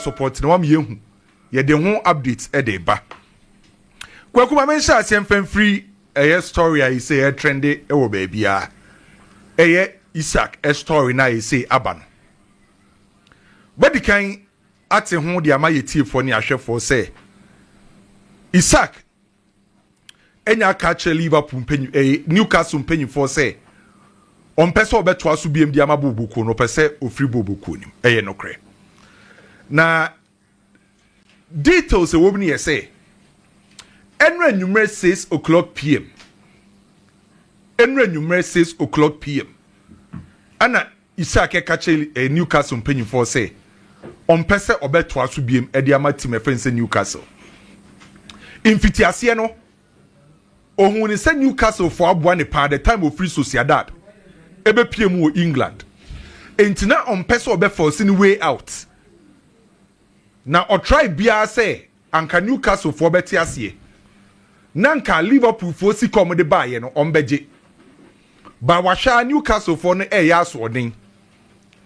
support na wama yɛhu yɛde ho updates ɛde ba kwaku ma menhyɛ aseɛ mfa mfiri ɛyɛ story a yɛsɛ yɛ trende ɛwɔ baabiaa ɛyɛ isaac story na yɛsɛ aba no bɛdi kan ate ho de ama yɛn atiefoɔ ne ahwɛfoɔ sɛ Isak anya aka akyerɛ Liverpool mpanyin ɛyɛ eh, Newcastle mpanyinfoɔ sɛ ɔmpɛ sɛ ɔbɛtoa so biam de ama boobokuo no ɔpɛ sɛ ofiri boobokuo nim ɛyɛ nokorɛ na details ɛwɔ mu no yɛ sɛ ɛnura enyimrɛ six o'clock pm ɛnura enyimrɛ six o'clock pm ɛna Isak ka kyerɛɛ Newcastle mpanyimfoɔ sɛ ɔmpɛ sɛ ɔbɛtoa so biom de ama team ɛfɛ ne sɛ Newcastle. Mfitiaseɛ no, ɔhuu ne sɛ Newcastle foɔ aboa ne paa the time ɔfiri Sociedad ɛbɛpie mu wɔ England. Enti na ɔmpɛ sɛ ɔbɛfɔɔse ne way out. Na ɔtrae biara sɛ Anka Newcastle foɔ bɛte aseɛ na anka Liverpool foɔ sika wɔn de baeɛ no wɔn bɛgye ba wahwɛ a Newcastle foɔ no ɛyɛ asoɔden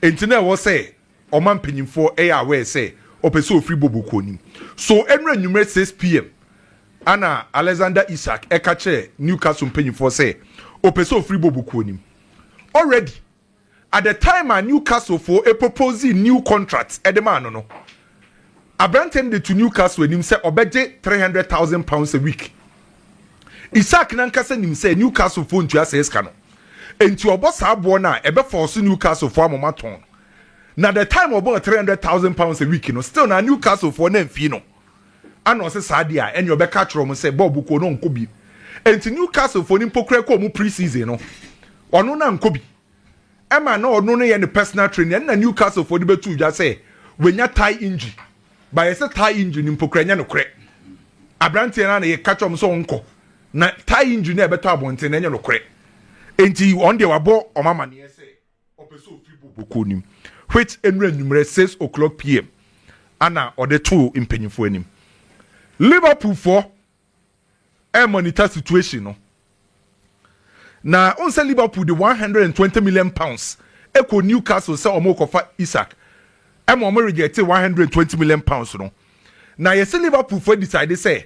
nti na ɛwɔ sɛ ɔma mpanyinfoɔ ɛyɛ aware sɛ ɔpɛ sɛ ofiri bobo kuo nim so ɛnura nwumere 6pm ana Alexander Isak ɛka kyerɛ Newcastle mpanyinfoɔ sɛ ɔpɛ sɛ ofiri bobo kuo nim already. at the time a Newcastle foɔ proposee new contract de maa no no, aberanteɛ no de to Newcastle anim sɛ ɔbɛgye three hundred thousand pounds a week. Isak no ankasa nim sɛ Newcastle foɔ ntua saa sika no, enti ɔbɔ saa boɔ no a ɛbɛfɔɔso Newcastle foɔ ama wɔatɔn no. Na the time ɔbɔɔ three hundred thousand pounds a week no, still na Newcastle foɔ no amfii no. Ana ɔse saa de a ɛneɛ ɔbɛka akyerɛ ɔmo sɛ Bob kɔɔ na ɔnkɔ bi. Enti Newcastle foɔ no mpo koraa kɔɔ ɔmo pre-season no ɔno na ankɔ bi. Ɛma na ɔno no yɛ ne personal training. Ɛno na Newcastle foɔ de bɛtoo dwa sɛ wanya thigh injury. But yɛse thigh injury no mpo koraa ɛnyɛ nokorɛ. Abranteɛ no ara na yɛka kyerɛ ɔmo sɛ ɔnkɔ. Na thigh injury no a ɛbɛtɔ abɔnten no ɛnyɛ nokorɛ. Enti wɔn deɛ wabɔ ɔmo amaneɛ sɛ Ɔpɛ sɛ ɔfiri bɔ bɔkɔɔ no mu which ɛnura anwummerɛ six o'clock pm ana ɔde too mpanyinfoɔ anim. Liverpool foɔ ɛremonita situation no na wohu sɛ Liverpool de one hundred and twenty million pounds ɛkɔ Newcastle sɛ wɔrekɔfa Isak ɛma wɔn rejecte one hundred and twenty million pounds no na yɛsɛ Liverpool foɔ decide sɛ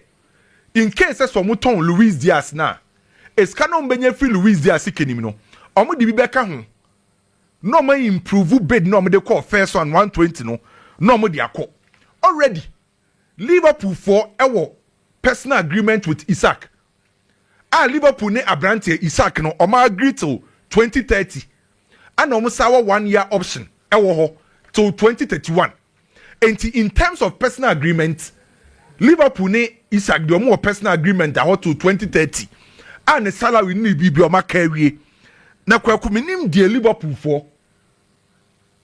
in case sɛ sɛ ɔmo tɔn Luis Diaz no a, esika no a ɔmo bɛnya afiri Luis Diaz sika nim no, ɔmo de bi bɛka ho na ɔmo a improve bid no a ɔmo de kɔɔ first round one twenty no na ɔmo de akɔ. Already Liverpool foɔ ɛwɔ personal agreement with Isak a Liverpool ne abranteɛ Isak no ɔmo agree till twenty thirty ɛna ɔmo san wɔ one year option ɛwɔ hɔ till twenty thirty one. Enti in terms of personal agreement, Liverpool ne Isak deɛ wɔn wɔ personal agreement ahɔ to 2030 a ne salary ne ne biribi wɔn aka awie. Na kwaku menim deɛ Liverpool foɔ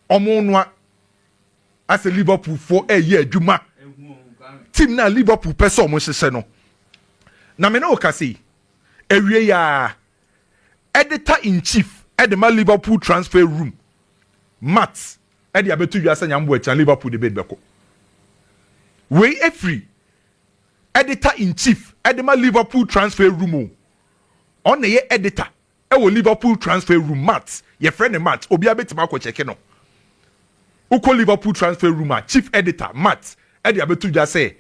wɔn noa asɛ Liverpool foɔ ɛyɛ adwuma team na Liverpool pɛ sɛ wɔn hyehyɛ no. Na me ne wo kasa yi awie yaa editor in chief ɛde ma Liverpool transfer room Matt de abɛto dwa sɛ Nyame bɔ akyi a Liverpool de bid bɛkɔ. Wei afiri editor in chief de ma Liverpool transfer room o. Ɔn na ɛyɛ editor ɛwɔ Liverpool transfer room Matt yɛfrɛ ne Matt obiara bɛtumi akɔ kyɛke no. Wokɔ Liverpool transfer room a chief editor Matt de abɛto dwa sɛ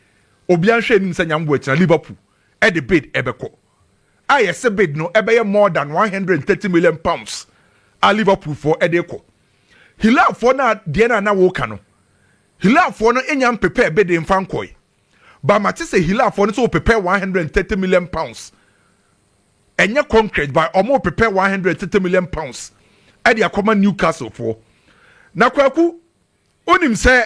obiara nhwɛ anim sɛ Nyame bɔ akyi a Liverpool de bid ɛbɛkɔ. A yɛse bid no ɛbɛyɛ more than 130 million pounds a Liverpool foɔ de kɔ. Hilafoɔ no a deɛ no a na woka no, Hilafoɔ no nya mpepɛɛ bede mfa nkɔe. Ba mate sɛ Hilafoɔ no sɛ wɔpepɛ 130 million pounds. Ɛnyɛ concrete ba wɔn repepɛ 130 million pounds ɛde akɔma Newcastle foɔ. Na kwaku, wonim sɛ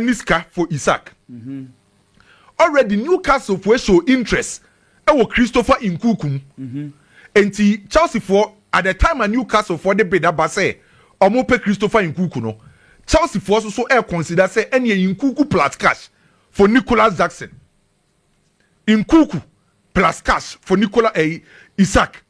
ne sika for Isaac already Newcastle foɔ show interest wɔ Christopher Nkuku mu nti Chelsea foɔ at the time a Newcastle foɔ de bid aba sɛ wɔn pɛ Christopher Nkuku no Chelsea foɔ nso so ɛɛ consider sɛ ɛneɛ Nkuku plus cash for Nicholas Jackson Nkuku plus cash for Nicholas ɛyi Isaac.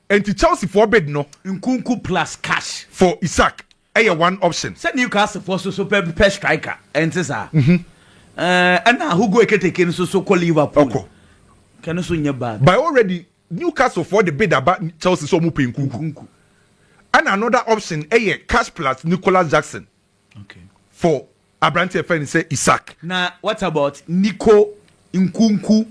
Enti Chelsea foɔ bid no. Nkunku plus cash. For Isak ɛyɛ one option. Sɛ Newcastle foɔ nso so pɛ pɛ striker ɛnte saa? Mhm. Ɛɛ ɛna Hugo Eketeke nso so kɔ Liverpool. Ɔkɔ. Kɛ no so nyɛ bad. By already Newcastle foɔ de bid aba Chelsea sɛ ɔmo pɛ Nkunku. Nkunku. Ɛna another option ɛyɛ cash plus Nicholas Jackson. for aberante yɛfrɛ no sɛ Isak. Na what about Nico Nkunku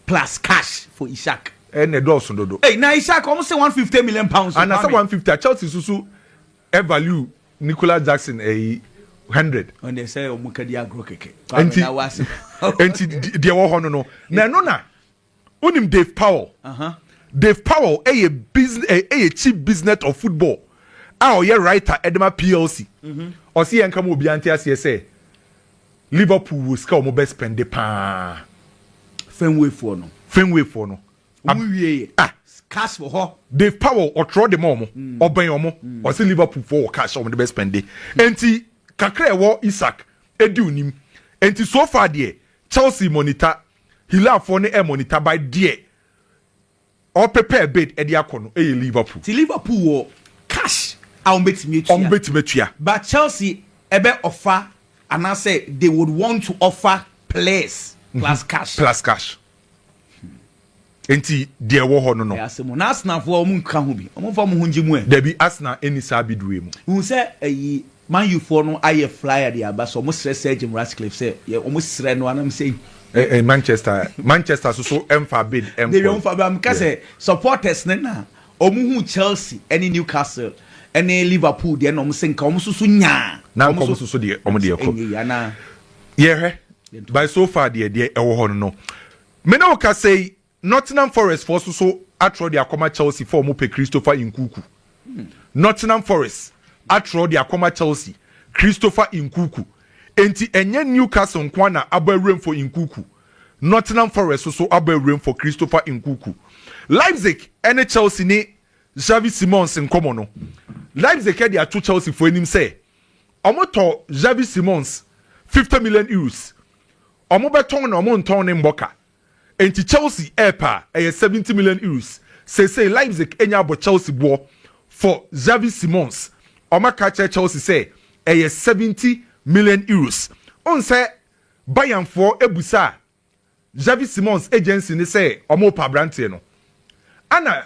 plus cash for Isak. Ɛna ɛdɔɔso dodo. Ei na Isak wɔn se one fifty million pounds. Ana sɛ one fifty a Chelsea susu ɛ value Nicolas Jackson ɛyi hundred. Wɔn deɛ sɛ wɔn kadi agorɔ kɛkɛ. Nti nti deɛ wɔ hɔ no no na ɛno na. Wonim Dave Powell? Dave Powell yɛ yɛ chief business of football a ɔyɛ writer de ma PLC. Mhm. Ɔsi yɛn kama obiara nte aseɛ sɛ Liverpool wɔ sika a wɔn bɛ spɛnde paa. Fenway foɔ no. Fenway foɔ no. Wɔn wie yɛ. Ah. Cash wɔ hɔ. Dave Powell ɔtwerɛ de ma wɔn. Mm. Ɔbɛn wɔn. Mm. Ɔsi Liverpool foɔ wɔ cash a wɔn de bɛ spɛnde. Nti kakra ɛwɔ Isak edi onim. Nti so far deɛ Chelsea monitor Hilafoɔ ne ɛmɔ ne taban deɛ ɔ prepare bid ɛde akɔ no ɛyɛ Liverpool. Ti Liverpool wɔ cash a ɔmo bɛtumi atua. Ɔmo bɛtumi atua. But Chelsea ɛbɛ ɔfa anaasɛ they would want to offer players plus cash. Plus cash. Enti deɛ ɛwɔ hɔ no no. Ɛyɛ asɛm o. Na Arsenalfoɔ wɔn nka ho bi? Wɔn mfa wɔn ho ngye mu ɛ. Dabi Arsenal nni saa bidue mu. Wohu sɛ ɛyi Man U foɔ no ayɛ flyer de aba sɛ wɔn srɛ Sir Jim Ratcliffe sɛ yɛ wɔn srɛ no anam sɛ yi. Eh eh Manchester Manchester so so ɛnfaa bid ɛnkɔ. Dabi wɔn nfa bid meka sɛ supporters no na wɔn hu Chelsea ɛne Newcastle ɛne Liverpool deɛ na wɔn sɛ nka wɔn so so nyaa. Na nka wɔn so so deɛ wɔn deɛ kɔ. Ɛnyɛ yi anaa. Yɛhwɛ by so far deɛ deɛ ɛwɔ hɔ no no. Me ne wo kasa yi, Nottingham Forest foɔ so so atrɔ de akɔma Chelsea fɔ ɔmo pɛ Christopher Nkuku. Nottingham Forest atrɔ de akɔma Chelsea Christopher Nkuku. Enti ɛnyɛ Newcastle nkoa na abɔ awuram fɔ Nkuku. Nottingham Forest so so abɔ awuram fɔ Christopher Nkuku. Leipzig ne Chelsea ne Xavi Simons nkɔmɔ no, Leipzig de ato Chelsea foɔ anim sɛ ɔmo tɔ Xavi Simons fifty million euros. Wɔbɛtɔn na wɔntɔn no mmɔ ka. Enti Chelsea repɛ a, ɛyɛ seventy million euros. Seesei Leipzig anya abɔ Chelsea boɔ for Xavi Simons. Wɔaka akyerɛ Chelsea sɛ ɛyɛ seventy million euros. Wohu sɛ Bayernfoɔ bisaa Xavi Simons agency no sɛ wɔrepɛ aberanteɛ no. Ɛna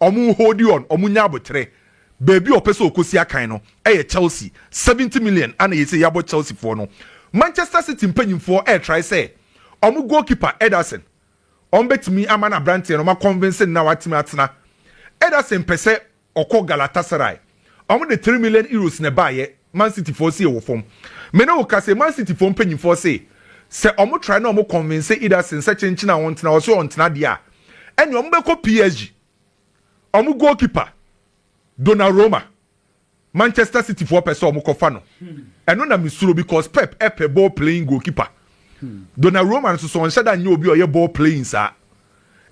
Ɔmo hold on, ɔmo nya aboterɛ. Baabi a ɔpɛ sɛ ɔkɔsi akan no yɛ Chelsea, seventy million ana yɛsɛ yɛabɔ Chelsea foɔ no. Manchester City mpanyinfoɔ ɛretrae sɛ ɔmo goal keeper Ederson ɔmo bɛtumi ama no aberanteɛ no ɔmo a convince no na watumi atena. Ederson pɛsɛ ɔkɔ Galatasaray. Ɔmo de three million euros na ɛbaayɛ, Man City foɔ sie wɔ fam. Me ne wo ka sei, Man City foɔ mpanyinfoɔ se, sɛ ɔmo try na ɔmo convince Ederson sɛ kyenkyen a ɔntena, ɔse ɔntena deɛ a, ɛneɛ ɔmo bɛkɔ PSG. Ɔmo goalkeeper, Donnaroma, Manchester City foɔ pɛ sɛ ɔmo kɔfa no. Ɛno na me suro because Pep pɛ ball playing goalkeeper. Donnaroma nso so ɔnhyɛ da nyɛ obi a ɔyɛ ball playing saa.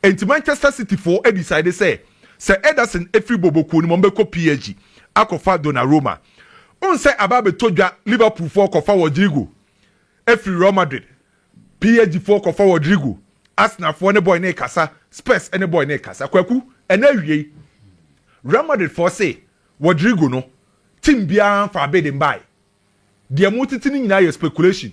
Enti Manchester City foɔ decide sɛ sɛ Ederson firi Bobo kuo no mu a wɔbɛkɔ PSG akɔfa Donnarumma. Wohu sɛ aba abɛtɔ dwa Liverpool foɔ kɔfa Rodrygo firi Real Madrid, PSG foɔ kɔfa Rodrygo, Arsenal foɔ ne boy no rekasa, Spurs ne boy no rekasa. Kwaku, ɛna awiei Real Madrid foɔ se Rodrygo no team biara mfaa bid mbae. Deɛ motete no nyinaa yɛ speculation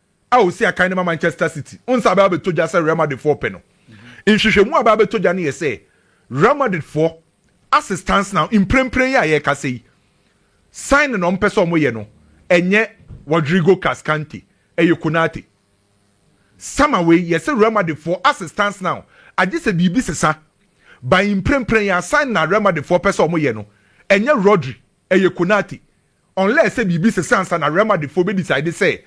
a osi akan no ma Manchester City ho nsa abɛba abɛtɔ gya sɛ Real Madridfoɔ repɛ no. Nhwehwɛmu a abɛba abɛtɔ gya no yɛ sɛ Real Madridfoɔ ase stance now mprempren yi a yɛrekasa yi, signing a wɔpɛ sɛ wɔyɛ no, ɛnyɛ Rodrigo Cascante, ɛyɛ Konate. Sama wei, yɛse Real Madridfoɔ ase stance now, agye sɛ biribi sesa, by mprempren yi a signing a Real Madridfoɔ pɛ sɛ wɔyɛ no, ɛnyɛ Rodri, ɛyɛ Konate. Unless sɛ biribi sesa ansa na Real Madrid foɔ bɛ decide sɛ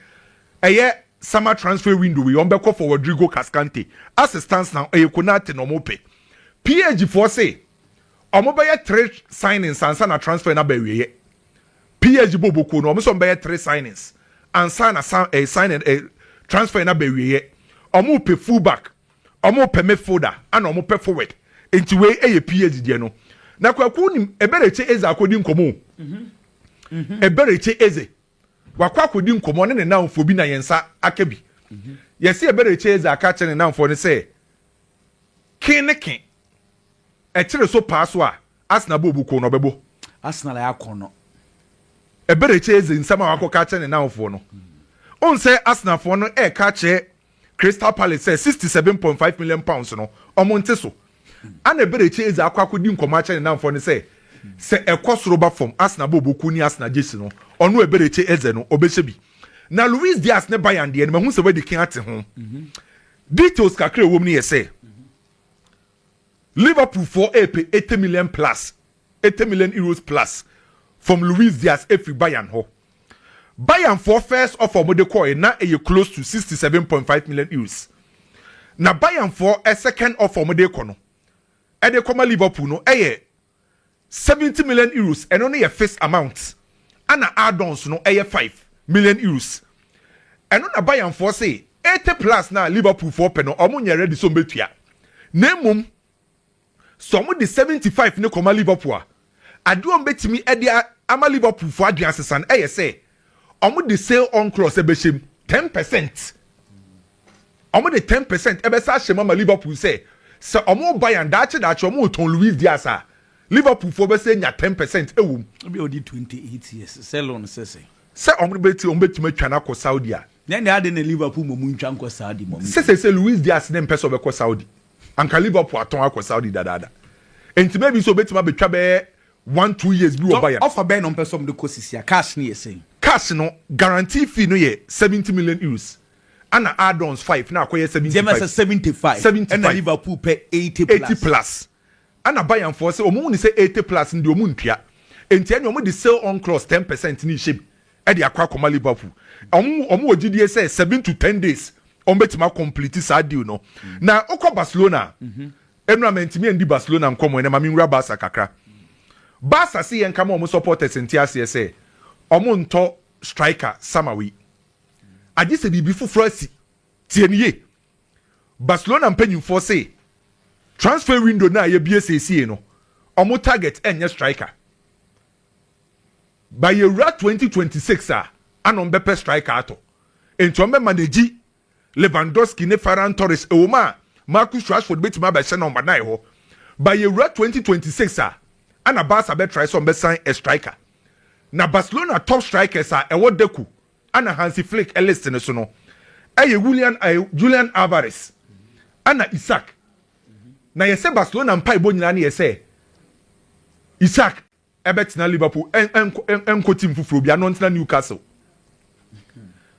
ɛyɛ summer transfer window wei wɔbɛkɔ for Rodrigo Cascante. As it stands now ɛyɛ Konate na wɔpɛ. Page foɔ se wɔbɛyɛ three signings ansa na transfer no aba awieɛ. Page bɔ bokuo no wɔn se wɔbɛyɛ three signings ansa na signing transfer no aba awieɛ. Wɔpɛ full back. Ɔmo pɛ me folder ɛna ɔmo pɛ forward nti wei ɛyɛ PH deɛ no na kwaku nim ɛbɛrekye eze akɔdi nkɔmɔ o ɛbɛrekye eze wakɔ akɔdi nkɔmɔ ne ne nanfoɔ bi na yɛn nsa aka bi yɛsi ɛbɛrekye eze aka kyerɛ ne nanfoɔ no sɛ ke ne ke ɛkyere so paa so a Arsenal bɔ obu ko na ɔbɛbɔ Arsenal ayɛ akɔn no ɛbɛrekye eze nsɛm a wakɔ ka kyerɛ ne nanfoɔ no onsɛ Arsenalfoɔ no ɛka kyerɛ Crystal Palace sɛ sixty seven point five million pounds no ɔmo nte so. Ana Eberechi Eze akɔ akɔdi nkɔmɔ akyerɛ ne namfoɔ no sɛ sɛ ɛkɔ soro ba fam Arsenal bɔ obokuo ne Arsenal gyesi no ɔno Eberechi Eze no ɔbɛhyɛ bi. Na Luis Diaz ne Bayern deɛ no mahu sɛ wadi kan ate ho. Details kakra a ɛwɔ mu no yɛ sɛ Liverpool foɔ repɛ eighty million plus. Eighty million euros plus from Luis Diaz afiri Bayern hɔ. Bayern foɔ first offer a wɔde kɔɔe na ɛyɛ close to sixty seven point five million euros. Na Bayern foɔ second offer a wɔde rekɔ no ɛde kɔma Liverpool no ɛyɛ seventy million euros, ɛno no yɛ fixed amount ɛna add-ons no ɛyɛ five million euros. Ɛno na Bayern foɔ se eighty plus no a Liverpool foɔ pɛ no wɔnyɛ ready sɛ wɔbɛtua na mmom Sɛ wɔde seventy five no kɔma Liverpool a, ade a wɔbɛtumi de ama Liverpoolfoɔ adweansesa no yɛ sɛ wɔde sale on clause bɛhyɛ mu, ten percent. Wɔde ten percent bɛsa ahyɛ mu ama Liverpool sɛ, sɛ wɔn Bayern daakye daakye wɔretɔn Luis Diaz a, Liverpoolfoɔ bɛsan anya ten percent wɔ mu. Ebia ɔdi twenty eight years, sale on sɛ sɛ. Sɛ wɔbɛti wɔbɛtumi atwa no akɔ Saudi a. Nyɛ nea ade na Liverpool mmom ntwa nkɔ Saudi mmom. Sɛ seesei Luis Diaz na ɛmpɛ sɛ ɔbɛkɔ Saudi. Anka Liverpool atɔn akɔ Saudi dadaada. Enti maybe sɛ obetumi abetwa bɛyɛ one two years bi wɔ Bayern. Offer bɛn na wɔpɛ sɛ wɔde kɔ sisi a? Cash no yɛ sɛn? Cash no, guarantee fee no yɛ seventy million euros, ɛna add-ons five na akɔyɛ seventy five. Gyama sɛ seventy five, ɛna Liverpool pɛ eighty plus. Ɛna Bayernfoɔ sɛ wɔhunu sɛ eighty plus no deɛ wɔn ntua, enti ɛne wɔn de sale on clause ten percent no rehyɛ mu de akɔ akɔma Liverpool. Wɔn wɔn wɔ gyidie sɛ seven to ten days wɔn bɛtumi akɔmpliti saa deal no. Na wokɔ Barcelona a, nnura mantumi andi Barcelona nkɔmɔ ɛnɛ, ma menwura Barca kakra. Barca se yɛnka ma wɔn supporters nte aseɛ sɛ wɔn ntɔ striker summer wei, agye sɛ biribi foforɔ asi. Tie no yie. Barcelona mpanyimfoɔ se transfer window no a yɛbue seesei no, wɔn target nyɛ striker. Ba yɛwura 2026 a, ana wɔn bɛpɛ striker atɔ. Enti wɔn bɛ manage Lewandowski ne Ferran Torres. Ɛwom a Marcus Rashford betumi abɛhyɛ no ma nan hɔ. Ba yɛwura 2026 a, ana Barca bɛtrae sɛ wɔn bɛsan a striker. Na Barcelona top strikers a ɛwɔ dako Ana Hansi Flick list no so no, ɛyɛ Julian eh, Julian Alvarez ɛna Isak. Na yɛsɛ Barcelona mpaebɔ nyinaa no yɛ sɛ Isak ɛbɛtena Liverpool ɛnkɔ team foforɔ bia no ntena Newcastle.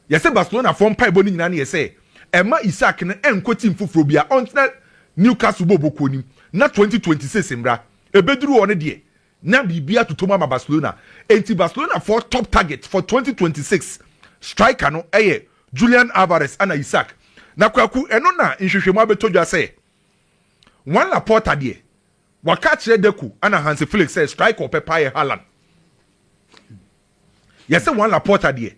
Yɛsɛ Barcelona foɔ mpaebɔ no nyinaa no yɛ sɛ ɛma Isak no ɛnkɔ team foforɔ bia ɔntena Newcastle bɔbɔ kuo nim na 2026 mbra ɛbɛduru hɔ no deɛ Na biribi atotɔ mu ama Barcelona, enti Barcelona foɔ top target for twenty twenty six striker no yɛ Julian Alvarez ɛna Isak. Na Kwaku ɛno na nhwehwɛmu abɛtɔ dwa sɛ Juan Laporta deɛ waka akyerɛ Deco ɛna Hansi Flick sɛ striker ɔpɛ paa yɛ Haaland. Yɛse Juan Laporta deɛ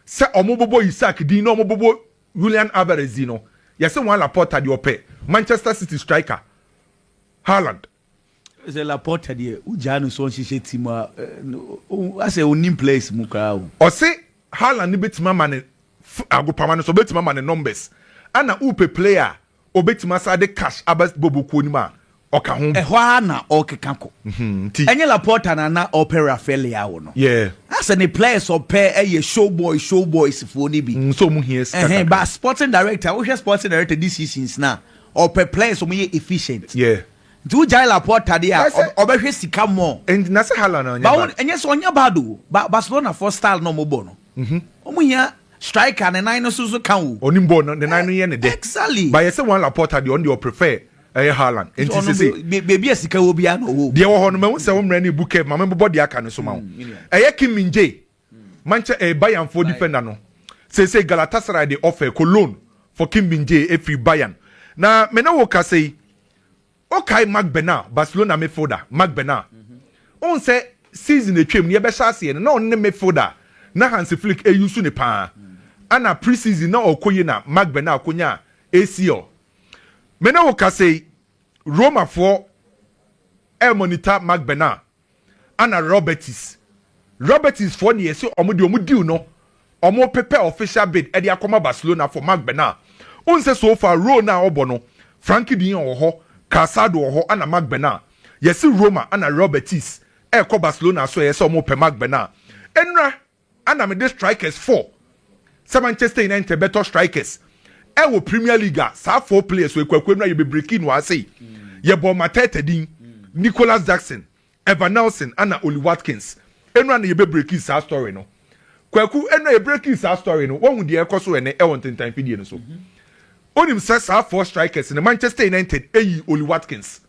sɛ wɔn bobɔ Isak din na wɔn bobɔ Julian Alvarez din no, yɛse Juan Laporta deɛ ɔpɛ Manchester City striker Haaland. Sɛ Laporta deɛ wogyaa no sɛ ɔnhyehyɛ team a asɛ ɔnnim players mu koraa o. Ɔse Haaland no bɛtumi ama ne agopama no so ɔbɛtumi ama ne numbers ɛna wopɛ player a ɔbɛtumi asan de cash aba bɔbɔ kuo no mu a ɔka ho. Ɛhɔ ara na ɔrekeka kɔ. Ɛnyɛ Laporta na na ɔpɛ Rafael Leao no. Asɛ ne players ɔpɛ ɛyɛ show boy show boys foɔ no bi. Nso ɔmo hia sika kakra. But sporting director wohwɛ sporting director decisions no a. Ɔpɛ players ɔmo yɛ efficient. Yeah. Nti wo gyae Laporta deɛ a Ɛsɛ- ɔbɛ hwɛ sika more. And na sɛ Haaland ɔnyɛ Ba wo bad. ɛnyɛ sɛ ɔnyɛ bad o ba Barcelona foɔ style na ɔmo bɔ no ɔmo hia striker ne nan no so so ka o. Ɔnim bɔɔl no, ne nan no yɛ ne dɛ. Exactly. But yɛsɛ Juan Laporta deɛ ɔno deɛ ɔprefer ɛyɛ Haaland. Nti Ɔno sese be- be- beebi a sika wɔ biara na ɔwɔ o. deɛ wɔ hɔ no mahu sɛ wo mmerɛ no ebu curve ma mebobɔ deɛ aka no so ma wo. Ɛyɛ Kim Min Jae. Manchɛ ɛyɛ Bayernfoɔ defender no. Seesei Galatasaray de ɔfɛ kɔ loan for Kim Min-jae afiri Bayern. Na me ne wo kasa yi, wokae Marc Bernard, Barcelona midfielder, Marc Bernard? Wohu sɛ season a atwam no yɛbɛhyɛ aseɛ no, na ɔno ne midfielder a na Hansi Flick use no pa ara. Ɛna pre-season na ɔrekɔ yie na Marc Bernard kɔnyaa ACL. Me ne wo kasa yi, Romafoɔ remonitor Marc Bernard. Ana Robertis. Robertis foɔ deɛ yɛse ɔmo deɛ ɔmo deal no ɔmo pepɛ official bid ɛde akɔma Barcelona for Marc Bernal. Wohu sɛ so far role no a ɔbɔ no Frankie de Jong wɔ hɔ, Calçado wɔ hɔ ana Marc Bernal. Yɛse Roma ana Robertis ɛɛkɔ Barcelona so ɛyɛ sɛ ɔmo pɛ Marc Bernal. Ɛnura Ana mede strikers four sɛ Manchester United bɛtɔ strikers ɛwɔ Premier League a saa four players wɔ ekuakuo no a yɛbɛbreki no ara sei. Yɛbɔɔ Mateta din, Nicholas Jackson, Evan Nelson ana Ollie Watkins. Eno ana yɛbɛbreki saa story no. Kwaku, eno a yɛbreki saa story no, woahu deɛ ɛrekɔ so ɛnɛ ɛwɔ ntentan mfidie no so. Wonim sɛ saa four strikers no Manchester United yii Ollie Watkins.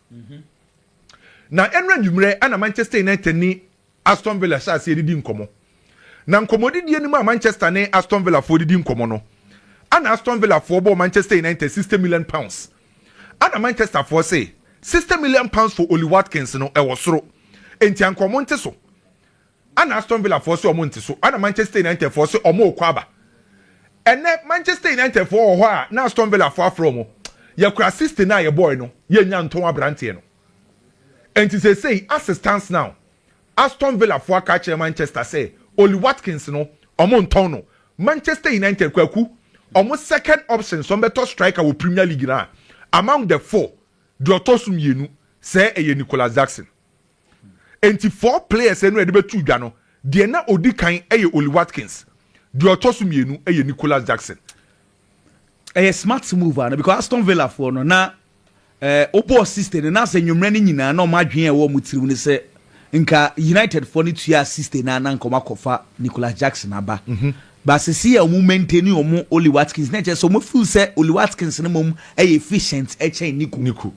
Na ɛno anwummerɛ ana Manchester United ne Aston Villa hyɛ aseɛ didi nkɔmmɔ. Na nkɔmmɔdidie no mu a Manchester ne Aston Villa foɔ didi nkɔmmɔ no, ɛna Aston Villa foɔ bɔɔ Manchester United sixty million pounds. Ɛna Manchester foɔ se, sixty million pounds for Ollie Watkins no, ɛwɔ soro. Enti anka wɔn nte so. Ɛna Aston Villa foɔ se wɔn nte so. Ɛna Manchester United foɔ se wɔn rekɔ aba. Ɛnɛ Manchester United foɔ wɔ hɔ a, na Aston Villa foɔ afrɛ wɔn, yɛkura sixty no a yɛbɔɔe no, yɛnnya ntɔn aberanteɛ no. Enti seesei as it stands now, Aston Villa fo aka akyerɛ Manchester sɛ Ollie Watkins no, wɔntɔn no. Manchester United, Kwaku, wɔn second option sɛ wɔbɛtɔ striker wɔ Premier League no a, among the four, deɛ ɔtɔ so mmienu, sɛ ɛyɛ Nicolas Jackson. Enti four players no a yɛde bɛto dwa no, deɛ na ɔdi kan yɛ Ollie Watkins, deɛ ɔtɔ so mmienu yɛ Nicolas Jackson. ɛyɛ smart move ana because Aston Villa foɔ no na ɛɛ wobɔɔ sixty no na sɛ nnwommerɛ no nyinaa na wɔn adwene a ɛwɔ wɔn tirim no sɛ nka United foɔ no tuaa sixty na na nka wɔn akɔfa Nicolas Jackson aba mhm. baasisi a wɔn maintain wɔn Oli Watkins na ɛkyɛ sɛ wɔn feel sɛ Oli Watkins no mom ɛyɛ efficient ɛkyɛn Nico. Nico.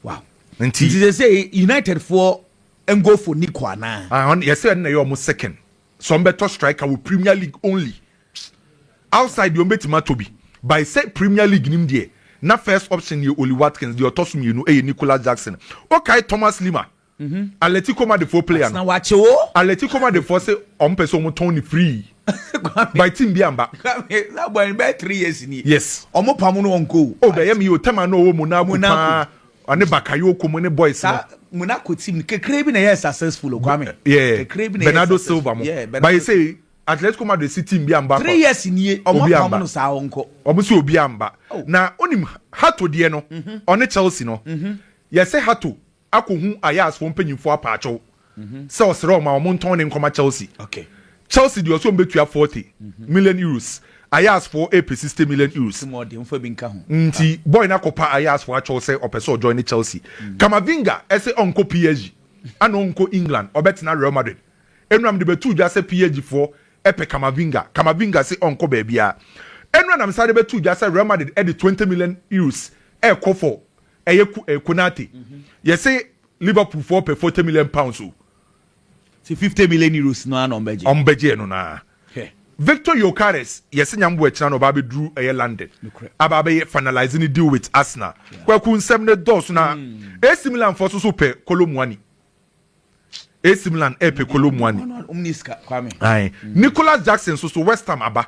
Wow. Nti sɛ sɛ United foɔ ngo for Nico anaa. Ah, yɛsɛ ɛna yɛ wɔn second. sɛ wɔn bɛtɔ striker wɔ premier league only outside deɛ wɔn bɛtumi atɔ bi by sɛ premier league nim deɛ na first option yɛ Oli Watkins deɛ ɔtɔ so mmienu yɛ Nicolas Jackson okae Thomas Lima mhm. Atletico Madridfoɔ player no Atletico Madridfoɔ sɛ wɔn pɛ sɛ wɔn tɔn ne free by team bi amba yes wɔn pam no wɔn ko o oh, bɛyɛ mi o tɛma na ɔwɔ Monaco paa. Ɔne Bakayoko mo ne boys no. Saa mo na kɔ team no kakra bi na ɛyɛ successful o Kwame. Yeah. Kakra bi na ɛyɛ Bernardo Silva mo. Yeah. Bernardo. But say Atletico Madrid si team bi amba. Three years nie ɔmo apam no saa ɔnkɔ. Ɔmo si obi amba. Oh. Na onim Hato deɛ no ɔne Chelsea no. Yɛsɛ Hato akɔ hu Ajax fo mpanyinfoɔ apaakyɛw. sɛ ɔsrɛ wɔn ma wɔntɔn ne nkɔma Chelsea. Chelsea deɛ ɔsɛ wɔn bɛtua forty million euros, Ajaxfoɔ ɛrepɛ sixty million euros. Nti boy no akɔpa Ajaxfoɔ akyɛw sɛ ɔpɛ sɛ ɔjoine Chelsea. Camavinga ɛsɛ ɔnkɔ PSG ana ɔnkɔ England, ɔbɛtena Real Madrid. Nnora mede bɛtoo dwa sɛ PSGfoɔ ɛpɛ Camavinga, Camavinga se ɔnkɔ baabiara. Nnora na mesane bɛtoo dwa sɛ Real Madrid ɛde twenty million euros ɛrekɔ for ɛyɛ Konate. Yɛse Liverpool foɔ pɛ forty million pounds o. Sɛ fifty million euros no ara na wɔn bɛ gye. Wɔn bɛ gyeɛ no no ara. Hwɛ. Victor Gyokeres yɛ sɛ nyame boa akyina na ɔba abɛduru ɛyɛ London Nokorɛ. aba abɛyɛ finalise ne deal with Arsenal. Yeah. Kwaku nsɛm no dɔɔso na AC Milan foɔ nso nso pɛ Kolo Muani. AC Milan ɛɛpɛ Kolo Muani. Wɔn wɔn ni sika Kwame. Ae. Nicolas Jackson nso so West Ham aba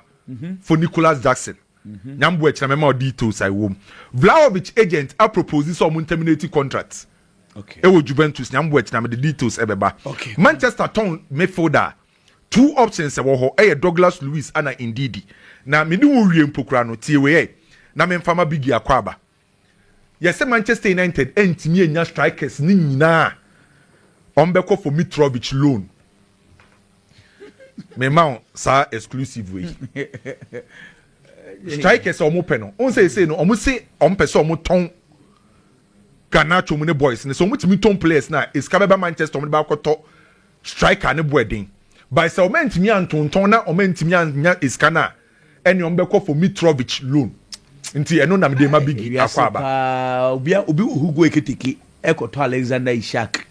for Nicolas Jackson. Nyamboa kyena mɛma wo details a ɛwom. Vlahovic agent apropose sɛ ɔmo nterminate contract ɛwɔ Juventus Nyamboa kyena mede details ɛbɛba. Manchester tɔn midfielder a two options ɛwɔ hɔ ɛyɛ Douglas Luiz ɛna Ndidi. Na mene wo wie mpo koraa no tie wei ɛ na memfa ma Biggie Akwaaba. Yɛsɛ Manchester United antumi annya strikers no nyinaa a wɔbɛkɔ for Mitrovic loan. Mema wo saa exclusive wei. Strikers a wɔpɛ no, wɔn sɛ ɛsei no wɔn se wɔn pɛ sɛ wɔn tɔn Garnacho mu ne boys no sɛ wɔn tumi tɔn players na esika bɛba Manchester wɔn de ba akɔtɔ striker ne bo ɛden. By sɛ wɔn antumi antontɔn na wɔn antumi anya esika no a ɛne ɔmo bɛkɔ for Mitrovic loan nti ɛno na mede ma Biggie akɔ aba. paa obi obi wɔ Hugo Ekitike ɛkɔtɔ Alexander Isak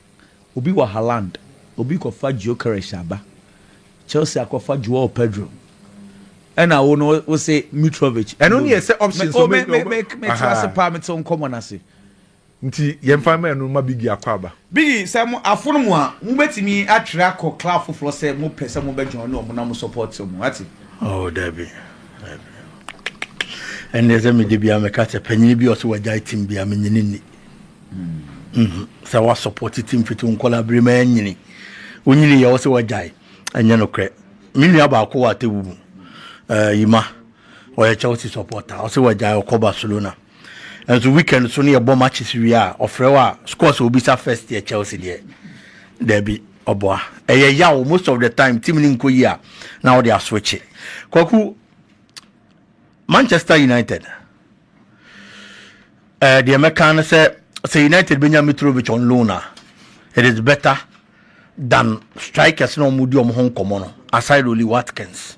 obi wɔ Haaland obi kɔfa Gyökeres aba Chelsea akɔfa Joao Pedro ɛna wo no wose Mitrovic ɛno ne yɛ sɛ options me me me me te ase paa me te nkɔmɔ no ase Nti yɛmfa mma ɛno mma Biggie akɔ aba. Biggie, sɛ mo afono mo a, mo bɛtumi atwere akɔ club foforɔ sɛ mo pɛ sɛ mo bɛ join ɔmo na mo support ɔmo, wate. Oh dabi, dabi. Ɛnneɛ sɛ me da biara me ka sɛ panyini bi a ɔsɛ wagyae team bi a me nyini nni. Mm. Sɛ wa support team fiti wo nkɔla bere ma ɛnyini. Wo nyini yɛ ɔsɛ wagyae. Ɛnyɛ no korɛ. Me nua baako wɔ atewu mu. Uh, Yima. Ɔyɛ Chelsea supporter. Ɔsɛ wagyae ɔkɔ Barcelona. Nanso weekend nso ne yɛbɔ matches wie a ɔfrɛ wo a scores a obisa first yɛ Chelsea deɛ daabi ɔboa ɛyɛ yaw most of the time team no nkɔ yi a na wode aswitche kwaku Manchester United ɛɛ eh, deɛ mɛka no sɛ sɛ United bɛnya Mitrovic on loan a it is better than strikers na wɔn di wɔn ho nkɔmɔ no aside Oli Watkins.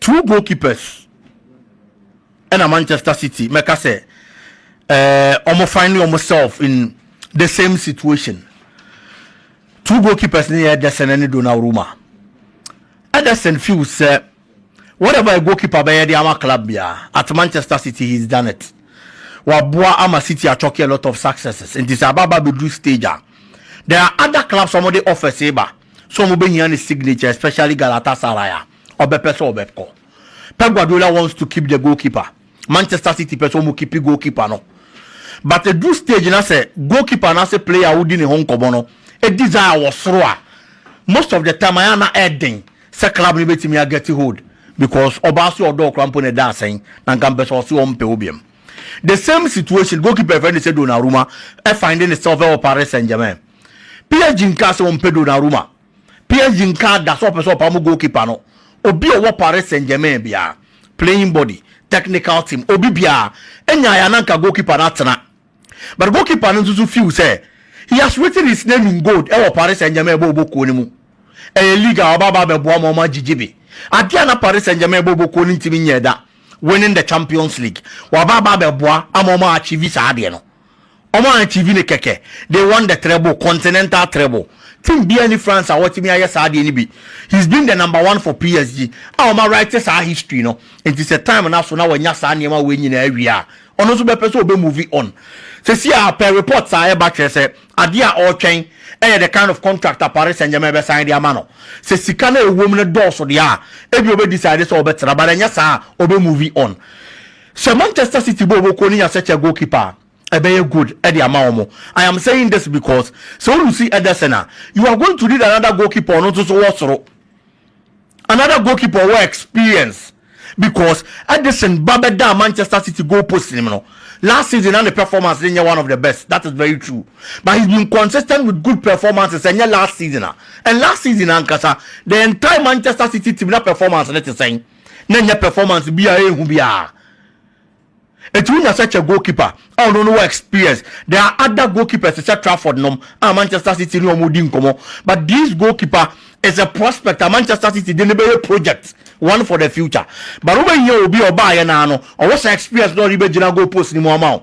two goalkeepers ɛna manchester city mɛka sɛ ɛɛ wɔn find wɔn self in the same situation two goalkeepers ne yɛ ɛdɛsɛn ɛne donnarumma ɛdɛsɛn few sɛ whatever a goalkeeper bɛyɛ de ama club biara at manchester city he's done it waboa ama city achɔke a lot of successes nti sɛ ababa bɛduru stage a there are other clubs wɔn de offers ba sɛ wɔbɛhia ne signature especially Galatasaray a ɔbɛpɛ sɛ ɔbɛkɔ. Pep Guardiola wants to keep the goalkeeper, Manchester City pɛ sɛ wɔn keep goalkeeper no but ɛduru stage na sɛ goalkeeper anaasɛ player a wodi ne ho nkɔmmɔ no desire wɔ soro a most of the time ayɛ a na ɛden sɛ club no bɛtumi a get hold because ɔbaa so ɔdɔ ɔkora mpo na ɛda asɛn na nka mpɛ sɛ ɔse ɔmpɛ wo biam. The same situation goalkeeper ɛfɛ ne sɛ Donnarumma ɛfinding itself ɛwɔ Paris Saint-Germain. PSG nkaa sɛ wɔmpɛ Donnarumma. PSG nkaa da sɛ wɔpɛ sɛ wɔpam goalkeeper no, obi a ɔwɔ Paris Saint-Germain biara, playing body, technical team, obi biara, nyae a na anka goalkeeper no atena. But goalkeeper no nso so feel sɛ he has written his name in gold wɔ Paris Saint-Germain bɔ ɔbɔ kuo no mu. Ɛyɛ league a ɔba aba abɛboa ma wɔagyigye bi. Adeɛ a na Paris Saint-Germain bɔ ɔbɔ kuo no ntumi nyɛɛ da, winning the Champions League, waba aba abɛboa ama wɔn a achieve saa adeɛ no. Wɔn a TV no kɛkɛ, they won the treble, continental treble. Team biara nni France a wɔatumi ayɛ saa adeɛ no bi. He's been the number one for PSG a wɔn awrite saa history no. Enti sɛ time no aso na wanya saa nneɛma wei nyinaa awie a, ɔno nso bɛpɛ sɛ ɔbɛ move on. Seesei a per reports a ɛreba kyerɛ sɛ adeɛ a ɔretwɛn yɛ the kind of contract a Paris Saint-Germain bɛsan de ama no. Sɛ sika no a ɛwɔ mu no dɔɔso deɛ a, ebia ɔbɛ decide sɛ ɔbɛtra but ɛnyɛ saa a, ɔbɛ move on. Sɛ Manchester City bɔ wɔn kuo no nya sɛkyɛ goalkeeper a, ɛbɛyɛ good de ama wɔn. I am saying this because sɛ wo lusi Ederson a, you are going to need another goalkeeper a ɔno nso so wɔ soro. Another goalkeeper a ɔwɔ experience because Ederson ba bɛdaa Manchester City goal post nim no, last season na ne performance no nyɛ one of the best, that is very true. But he's been consistent with good performances ɛnyɛ last season a. And last season ankasa, the entire Manchester City team na performance no te sɛn? na ɛnyɛ performance bi a ɛyɛ hu biara. Enti wonya sɛ kyɛ goalkeeper a ɔno no wɔ experience. There are other goalkeepers te sɛ Trafford nom a Manchester City ne wɔn di nkɔmmɔ but this goalkeeper is a prospect a Manchester City de no bɛyɛ project one for the future but wobɛhia obi a ɔbaeɛ no ara no ɔwɔ saa experience na ɔde bɛgyina goal post no mu ama wo.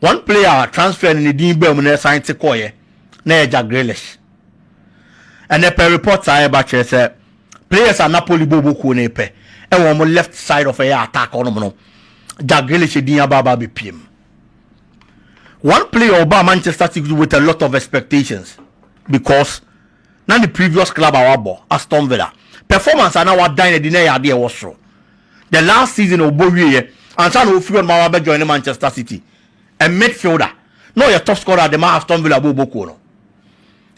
One player a transfer no ne din baa mu na ɛsan te kɔeɛ na ɛyɛ Jack Grealish. Ɛnɛ pɛ reports a ɛba kyerɛ sɛ players a Napoli bɔ ɔbɔ kuo no repɛ ɛwɔ wɔn left side of ɛyɛ attack ɔnom no Jack Grealish din aba aba abɛpie mu. One player ɔbaa Manchester City with a lot of expectations because na ne previous club a wabɔ, Aston Villa, performance a na wadan no adi na ɛyɛ ade a ɛwɔ soro. The last season a ɔbɔ wieɛ, ansa na ɔfiri hɔnom aba abɛjoine Manchester City, a midfielder, na ɔyɛ top scorer de ma Aston Villa bɔ ɔbɔkuo no.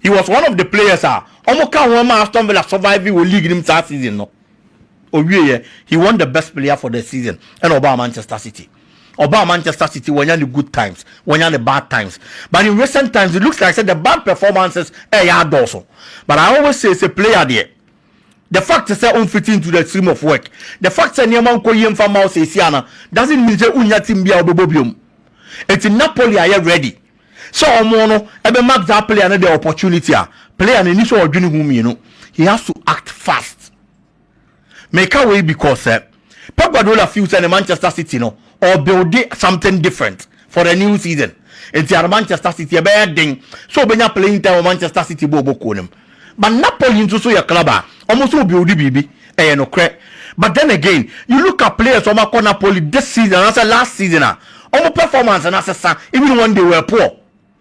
He was one of the players a wɔka ho ma Aston Villa survivee wɔ league no mu saa season no. Ɔwieɛ, he won the best player for the season ɛna ɔbaa Manchester City. Ɔbaa Manchester City wanya ne good times, wanya ne bad times but in recent times it looks like sɛ the bad performances ɛɛyɛ adɔɔso but I always say sɛ player deɛ the fact sɛ ɔmfiti into the stream of work the fact sɛ nneɛma nkɔ yie mfa mma wo seesie ana doesn't mean sɛ wonnya team bi a wobɛbɔ biom ɛti Napoli ayɛ ready sɛ ɔmo no ɛbɛ mark that player no the opportunity a player no ɛni sɛ ɔdwene ho mmienu he has to act fast. Meka wei because sɛ Pep Guardiola feel sɛ ne Manchester City no ɔrebuilde something different for the new season nti ara Manchester City ɛbɛyɛ den sɛ ɔbɛnya playing time wɔ Manchester City bɔɔl bɔ kuo no mu. But Napoli nso so yɛ club a wɔn nso rebuilde biribi, ɛyɛ nokorɛ. But then again, you look at players a wɔakɔ Napoli this season anaasɛ last season a, wɔn performance no asesa, even when they were poor.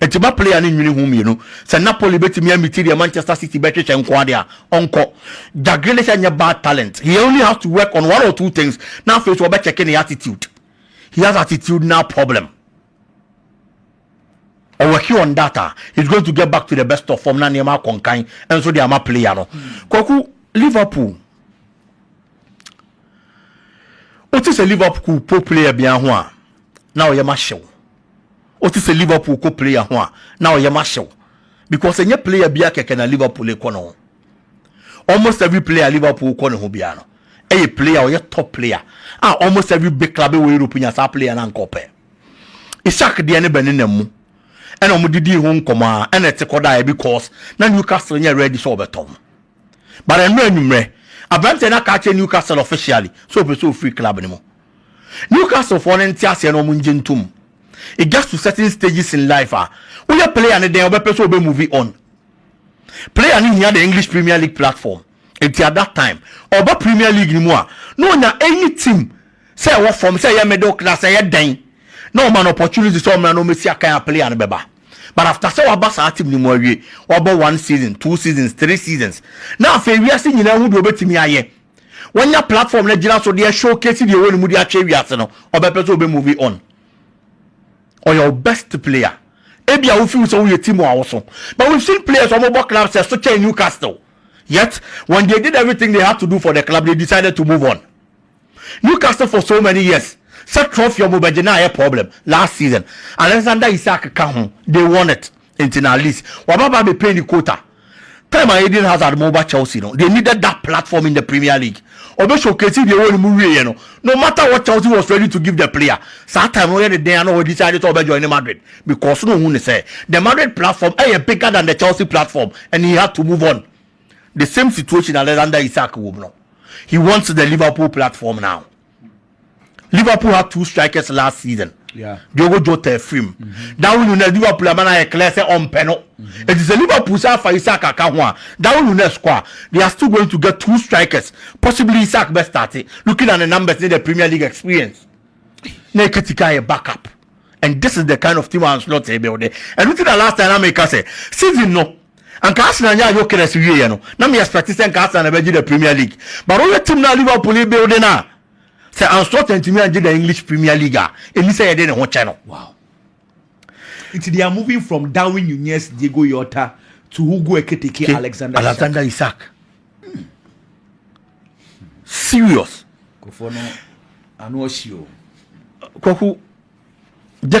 Enti ma player no nnwene ho mmienu. Sɛ Napoli betumi amiti deɛ Manchester City bɛhwehwɛ nko ara deɛ a, ɔnkɔ. Jack Grealish nyɛ bad talent, he only has to work on one or two things na afei nso wɔbɛkyɛke ne attitude. He has attitudinal problem. Ɔwɔke on that a, he's going to get back to the best of form na nneɛma akɔ nkan nso de ama player no. Kwaku, Liverpool, wote sɛ Liverpool po player biara ho a, na ɔyɛ ma hyew. Wote sɛ Liverpool kɔ player ho a, na wo yam ahye wo because ɛnyɛ player biara kɛkɛ na Liverpool kɔ ne ho. Almost every player a Liverpool kɔ ne ho biara no, ɛyɛ player a ɔyɛ top player a almost every big club wɔ Europe nya saa player no anka ɔpɛ. Isak deɛ ne bɛnenam mu ɛna wɔde dii ho nkɔmmɔ a ɛna ɛte kɔdaeɛ because na Newcastle nyɛ ready sɛ wɔbɛtɔn no. But ɛno anwummerɛ, aberanteɛ no aka akyerɛ Newcastle officially sɛ ɔpɛ sɛ ɔfiri club no mu. Newcastlefoɔ no nte aseɛ na wɔn ngye ntom. It gets to certain stages in life a, woyɛ player no dɛn a wobɛpɛ sɛ wobɛ move on. Player no hia the English Premier League platform, nti at that time, ɔba Premier League no mu a, na ɔnya any team sɛ ɛwɔ fam, sɛ ɛyɛ middle class, sɛ ɛyɛ dɛn, na wɔma no opportunity sɛ ɔmmra na ɔmmɛsi akan a player no bɛba. But after sɛ waba saa team no mu awie, wabɔ one season, two seasons, three seasons, na afei wiase nyinaa hu deɛ ɔbɛtumi ayɛ, wanya platform no agyina so de showcase deɛ ɛwɔ ne mu de akyerɛ wiase no ɔbɛpɛ sɛ ɔbɛ movie on ɔyɛ wo best player ebi a wofi sɛ woyɛ team a woso but we've seen players wɔn bɔ club sɛ so kyɛn Newcastle yet when they did everything they had to do for the club they decided to move on Newcastle for so many years sɛ trophy wɔn bɛgye na ayɛ problem last season Alexander Isak ka ho they won it Nti na at least waba ba bɛ pay ne quota. Time a Eden Hazard mo ba Chelsea no, they needed that platform in the Premier League. Ɔbɛ showcase deɛ ɛwɔ ne mu wieɛ no, no matter what Chelsea was ready to give the player. Saa time no ɔyɛ ne dɛn a na ɔ decide sɛ ɔbɛ joine Madrid because na ohun ne sɛ the Madrid platform ɛyɛ bigger than the Chelsea platform and he had to move on. The same situation Alexander Isak wɔ mu no. He wants the Liverpool platform now. Liverpool had two strikers last season. Yeah. Diogo Jota free mu. Mm-hmm. Darwin Nunez Liverpool ama na yɛ clear sɛ ɔmpɛ no. Mm-hmm. Eti sɛ Liverpool sɛ afa Isak aka ho a Darwin Nunez kɔ a they are still going to get two strikers possibly Isak bɛ start looking at the numbers ne the Premier League experience. Na Ekitike ayɛ backup. and this is the kind of team and slot they build ɛno ti na last time na mi ka sɛ season no anka arsenal nyɛ ayokres wie yɛ no na mi expect sɛ nka arsenal na bɛ gye the premier league but ɔyɛ team na liverpool build na sɛ anslot ntumi angye the english premier league a ɛni sɛ yɛde ne ho kyɛ no. wow nti they are moving from darwin nunez diego yota to hugo ekitike alexander, alexander isaac. isaac. serious. kofo no ano ɔhyi o. kwaku jẹ.